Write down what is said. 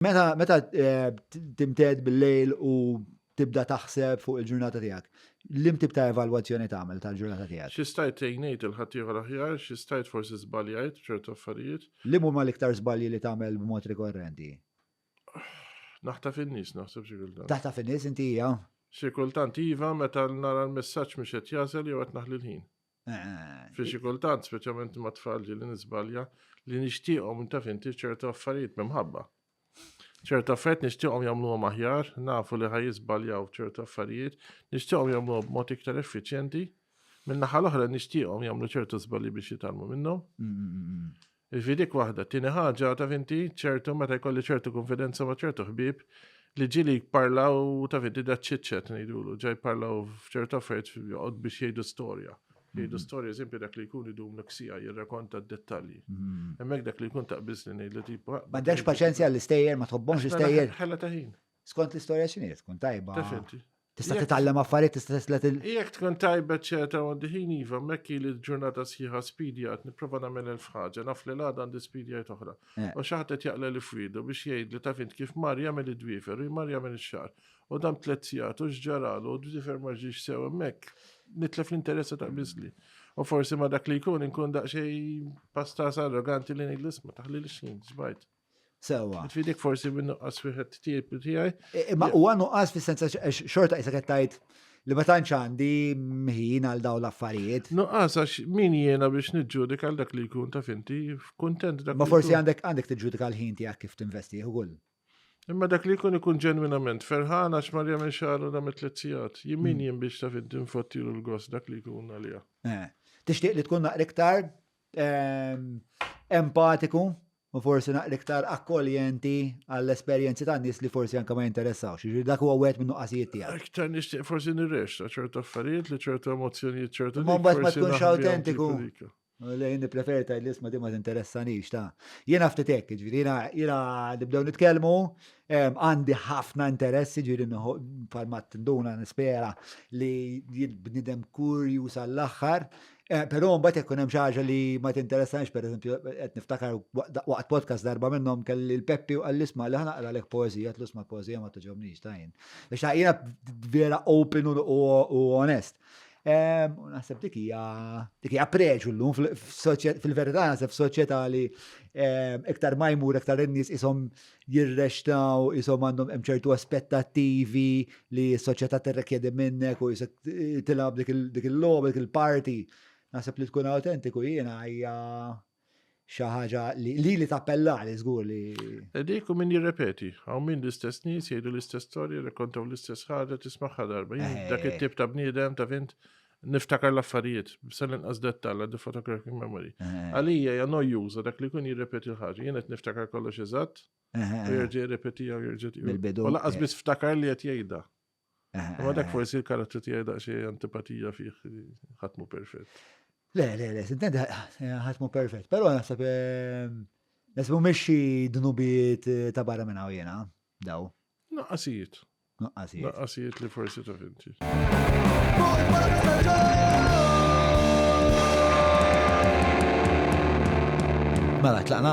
Meta meta eh, timted bil-lejl u tibda taħseb fuq il-ġurnata tiegħek, lim tip ta' evalwazzjoni tagħmel tal-ġurnata tiegħek? Xi stajt tgħinejt il-ħaddieħor aħjar, xi stajt forsi żbaljajt ċertu affarijiet. Lim huma l-iktar żbalji li tagħmel b'mod rikorrenti? Naħta fin-nies naħseb xi kultant. Taħta fin-nies inti hija? Xi kultant iva meta nara l-messaġġ mhux qed jasel jew qed naħli l-ħin. Fi xi kultant, speċjalment ma' tfal li nisbalja, li nixtieqhom taf inti ċertu affarijiet mimħabba. ċertu affarijiet nixtieqhom jagħmluhom aħjar, nafu li ħaj jiżbaljaw ċertu affarijiet, nixtieqhom jagħmluhom b'mod iktar effiċjenti, minn naħa l-oħra nixtieqhom jagħmlu ċertu żbalji biex jitalmu minnhom. Mm, mm, mm, Fi dik waħda. Tieni ħaġa, taf inti, ċertu meta jkolli ċertu konfidenza ma' ċertu ħbieb li ġili jparlaw taf inti da ċiċċet ngħidulu, ġaj jparlaw f'ċertu affarijiet joqgħod biex jgħidu storja. Jgħidu mhm. storja eżempju dak li jkun idum l-ksija jirrakonta d-dettalji. Mhm. Hemmhekk dak li jkun taqbiż li ngħidlu tipa. Ma ddex paċenzja l-istejjer, ma tħobbhomx l-istejjer. Ħella ta' ħin. Skont l-istorja x'inhi tkun tajba. Taf inti. Tista' titgħallem affarijiet, tista' teslet il. Jekk tkun tajbet ċerta għandi ħin iva, mekki li l-ġurnata sħiħa spidi għad nipprova nagħmel elf ħaġa, naf li l-għada għandi spidi għajt oħra. Eh. U xaħat qed jaqla li fwidu biex jgħid li tafint kif mar jagħmel id-dwifer, u mar jagħmel ix-xar. U dam tliet sigħat u x'ġaralu u d-dwifer ma ġiex sew hemmhekk. Nitlef l-interessa ta' biżli. U forsi ma dak li jkun inkun daqsxejn pastas arroganti li ngħid l-isma taħli l-xin, ġbajt. Sewa. Tfidik forsi minn nuqqas fiħet tiegħi. Ma huwa nuqqas fis-senza xorta qisek qed tgħid li ma tantx għandi mħin għal dawn l-affarijiet. Nuqqas għax min jiena biex niġġudik għal dak li jkun ta' finti f'kuntent dak. Ma forsi għandek għandek tiġġudika l-ħin tiegħek kif tinvesti ukoll. Imma dak li jkun ikun ġenwinament ferħan għax mar jagħmel xahar u dam tliet sigħat. Jien min hmm. jien biex ta' finti nfottilu l-gost dak li jkun għalija. Eh, tixtieq li tkun naqra iktar ehm, empatiku u forsi naqra iktar akkoljenti għall-esperjenzi tan-nies li forsi anke ma jinteressawx. Jiġri dak huwa wieħed min-nuqqasijiet tiegħek. Iktar nixtieq forsi nirrexxa ċertu affarijiet li ċertu emozzjonijiet ċertu. Ma mbagħad ma tkunx awtentiku. Lejn nippreferi tgħid l-isma di ma tinteressanix ta'. Jiena ftit hekk, ġifieri jiena nibdew nitkellmu, għandi ħafna interess, ġifieri bħalma tinduna nispera li jien bniedem kurjuż għall-aħħar, Eh, Pero mbagħad jekk hemm xi ħaġa li ma tinteressanix, pereżempju qed niftakar waqt podcast darba minnhom kelli l-Peppi u qal isma' li ħanaqra lek poeżija, tlu sma' poeżija ma toġobnix tajn. Biex jiena vera open u onest. Eh, u naħseb dik hija dik hija preġu llum fil-verità naħseb f'soċjetà li eh, iktar ma jmur iktar in-nies ishom jirrexxtaw, qishom għandhom hemm ċertu aspettattivi li s-soċjetà tirrekjedi minnek u jisek tilgħab dik il-logħba, dik il-parti. Naħseb li tkun autentiku jiena hija xi ħaġa li li tappella li żgur li. Dik u min jirrepeti, hawn min l-istess nies jgħidu l-istess storja, rekontaw l-istess ħaġa tismagħha darba. Eh. Dak it-tip ta' bniedem ta' vint Niftakar l-affarijiet, sal-inqas dettall għaddi photographic memory. Eh. Għalija ja nojjuża dak li kun jirrepeti l-ħagġa, jenet niftakar kollox eżatt, eh, eh, u jirġi jirrepeti għaw jirġi. Bil-bidu. U laqqas bis ftakar li għet jgħida. Ma dak forsi l-karattru tiegħi daqsxejn antipatija fih ħatmu perfett. Le, le, le, sintent ħatmu perfett, però naħseb ehm, naħseb mhumiex xi dnubijiet ta' barra minn hawn jiena daw. Naqqasijiet. Nuqqasijiet. Nuqqasijiet li forsi ta' finti. Mela, tlaqna?